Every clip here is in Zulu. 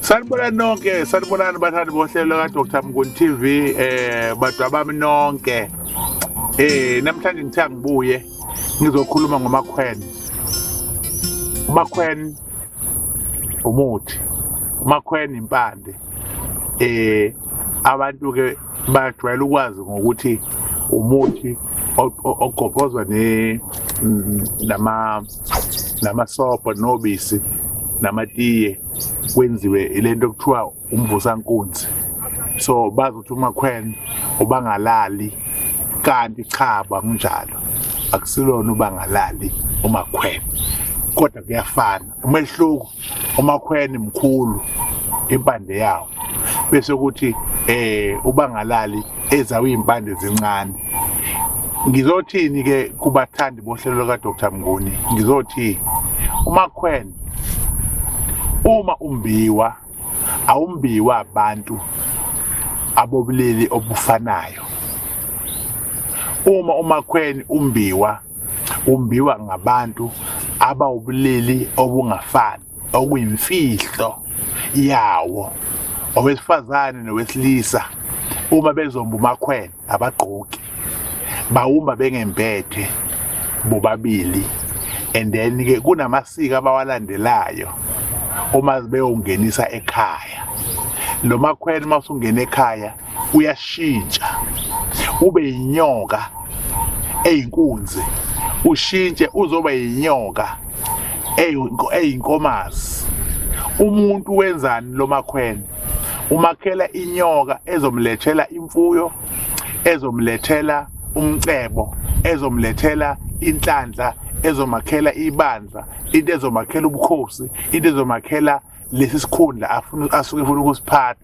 sanibonani nonke sanibonani bathandi bohlelo kadr mnguni tv eh badwa bami nonke eh namhlanje ngithe angibuye ngizokhuluma ngomakhwene umakhwene umuthi umakhwene impande eh abantu ke bayajwayela ukwazi ngokuthi umuthi ogobhozwa namasobho nobisi namatiye kwenziwe ilento kuthiwa umvusankunzi so bazi ukuthi umakhwena ubangalali kanti cha bangunjalo akusilona ubangalali umakhwena kodwa kuyafana umehluko umakhweni mkhulu impande yawo bese ukuthi eh ubangalali ezawimpande zincane ngizothini ke kubathandi bohlelo ka Dr Mnguni ngizothi umakhwen uma umbiwa awumbiwa abantu abobulili obufanayo uma umakhweni umbiwa umbiwa ngabantu abawubulili obungafani okuyimfihlo yawo owesifazane nowesilisa uma bezomba umakhwela abagqoki bawumba bengempethe bobabili and then ke kunamasiko abawalandelayo uma beyongenisa ekhaya lo makhwela uma usungena ekhaya uyashintsha ube inyoka eyinkunzi ushintshe uzoba yinyoka eyinkomazi umuntu wenzani lo makhwene umakhela inyoka ezomlethela imfuyo ezomlethela umcebo ezomlethela inhlanhla ezomakhela ibandla into ezomakhela ubukhosi into ezomakhela lesi sikhundla afuna asuke efuna ukusiphatha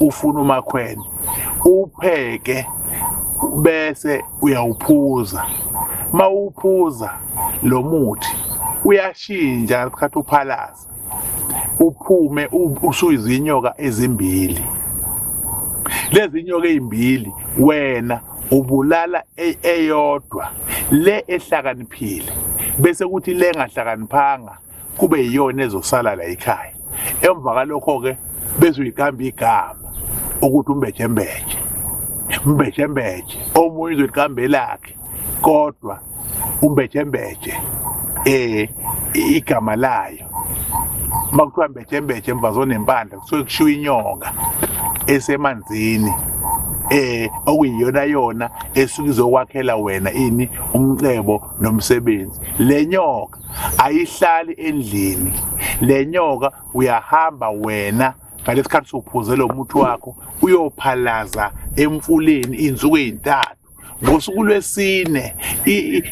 ufuna umakhwene upheke bese uyawuphuza mawuphuza lo muthi uyashintsha ngesikhathi uphalaza uphume usuyizinyoka ezimbili lezi nyoka ezimbili wena ubulala e-, eyodwa le ehlakaniphile bese kuthi le ngahlakaniphanga kube yiyona ezosala la ekhaya emva kalokho-ke bezoyiqamba igama ukuthi umbejembeje umbejembeje omunye uzoyiqamba elakhe kodwa umbejembeje eh igama layo makuthiwa mbejembeje mvazonempandla kusuke kushiwo inyoka esemanzini eh okuyiyona yona esuke izokwakhela wena ini umcebo nomsebenzi lenyoka ayihlali endlini le nyoka uyahamba wena ngalesikhathi sophuze lo muthi wakho uyophalaza emfuleni insuku ezintathu ngosuku lwesine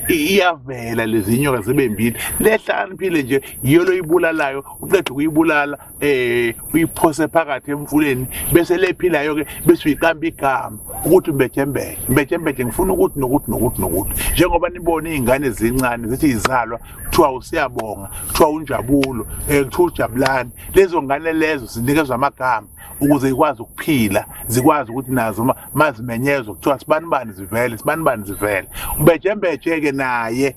iyavela lezi nyoka zibe mbili lehlaniphile nje yiyo loyibulalayo uqeda ukuyibulala eh uyiphose phakathi emfuleni bese lephilayo ke bese uyiqamba igama ukuthi mbejembeke mbejembeke ngifuna ukuthi nokuthi nokuthi nokuthi njengoba nibona izingane zincane zithi izalwa kuthiwa usiyabonga kuthiwa unjabulo eh, kuthiwa ujabulani lezo ngane lezo zinikezwa amagama ukuze ikwazi ukuphila zikwazi ukuthi nazo mazimenyezwa kuthiwa sibanibani zivele sibanibani zivele umbejembeje ke naye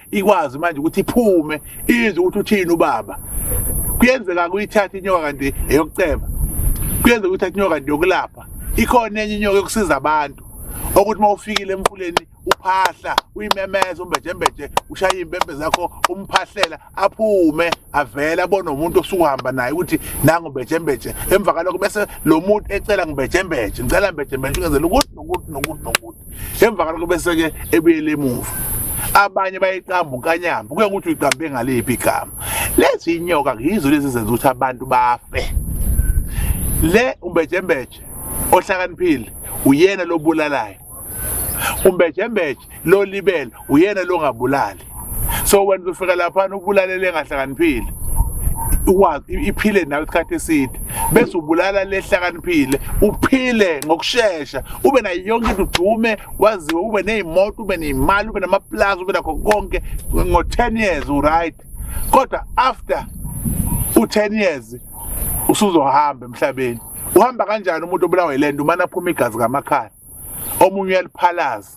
ikwazi manje ukuthi iphume izwe ukuthi uthini ubaba kuyenzeka kuyithatha inyoka kanti eyokuceba kuyenzeka ukuthatha inyoka kanti yokulapha ikhona enye inyoka yokusiza abantu okuthi uma ufikile emfuleni uphahla uyimemeza umbejembeje ushaye impempe zakho umphahlela aphume avele abone umuntu osuhamba naye ukuthi nangu mbejembeje emva kalokho bese lo muntu ecela ngibejembeje ngicela mbejembeje ukezela ukuthi nokuthi nokuthi nokuthi emva kalokho bese-ke ebuyele emuva abanye bayiqamba unkanyamba kuye ukuthi uyiqambe ngaliphi igama lezi inyoka yizo lezi zenza ukuthi abantu bafe le umbejembeje ohlakaniphile uyena lobulalayo umbejembeje lolibele uyena longabulali so wena uzofika laphana ubulalele engahlakaniphile ikwazi iphile nawe isikhathi eside bese ubulala lehlakaniphile uphile ngokushesha ube nayo yonke into udume waziwe ube nezimoto ube nemali ube namaplaza ube nakho konke ngo-10 years uright kodwa after u-10 years usuzohamba emhlabeni uhamba kanjani umuntu obulawa ilento umane aphuma igazi kamakhala omunye uyaliphalaza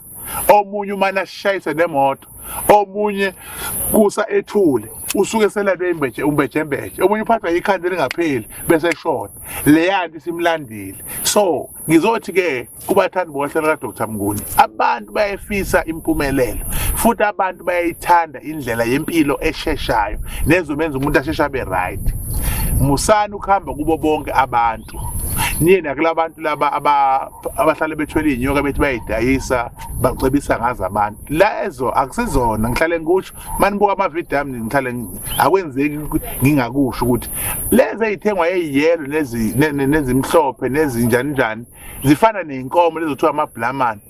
omunye umane ashayise nemoto omunye kusa ethule usuke selalwe imbeje umbejembeje omunye uphathwa ikhanda elingapheli bese eshona leyanto isimlandile so ngizothi ke kubathandi bohlelo kaDr Mnguni abantu bayefisa impumelelo futhi abantu bayayithanda indlela yempilo esheshayo nezobenza umuntu asheshe abe right musani ukuhamba kubo bonke abantu niye nakulabantu laba abahlale bethwele inyoka bethi bayidayisa bacebisa ngazo abantu lezo akusizona ngihlale ngikusho manibuka amavidiyo ami ngihlale akwenzeki ngingakusho ukuthi lezi eyithengwa eyiyelo nezimhlophe nezinjani njani zifana ney'nkomo lezo kuthiwa amabhulamane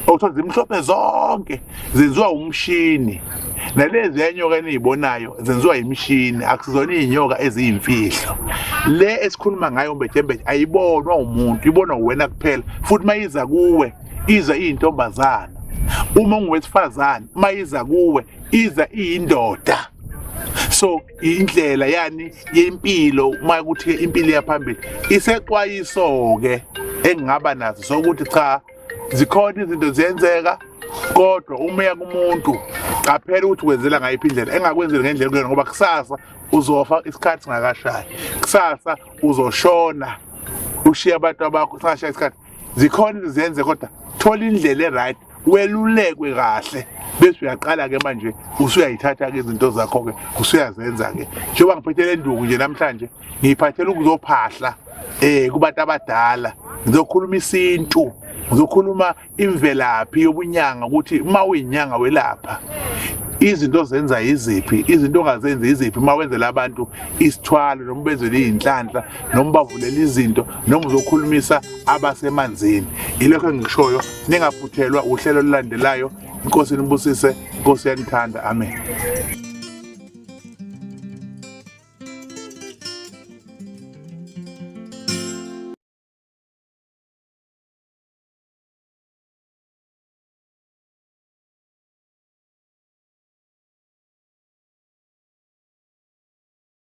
okuthiwa zimhlophe zonke zenziwa umshini nalezi yanyoka eniyibonayo zenziwa yimishini akusizona iy'nyoka eziyimfihlo le esikhuluma ngayo umbejembeje ayibonwa umuntu ibonwa uwena kuphela futhi uma iza kuwe iza iyintombazana uma ungowesifazane uma iza kuwe iza iyindoda so indlela yani yempilo uma kuthi impilo iyaphambili isexwayiso-ke engingaba nazo sokuthi cha zikhona izinto ziyenzeka kodwa uma uya kumuntu qaphela ukuthi wenzela ngayiphi indlela engakwenzeli ngendlela kuyona ngoba kusasa uzofa isikhathi singakashayi kusasa uzoshona ushiye abantu abakho singashaya isikhathi zikhona izinto ziyenze kodwa thola indlela e-right welulekwe kahle bese uyaqala ke manje usuyayithatha ke izinto zakho ke usuyazenza ke njengoba ngiphathele induku nje namhlanje ngiyiphathela ukuzophahla eh kubantu abadala ngizokhuluma isintu ngizokhuluma imvelaphi yobunyanga ukuthi uma uyinyanga welapha izinto zenza iziphi izinto ongazenzi iziphi uma wenzela abantu isithwalo noma ubenzele iy'nhlanhla noma bavulela izinto noma uzokhulumisa abasemanzini ilokho engishoyo ningaphuthelwa uhlelo olulandelayo inkosi inibusise inkosi yanithanda amen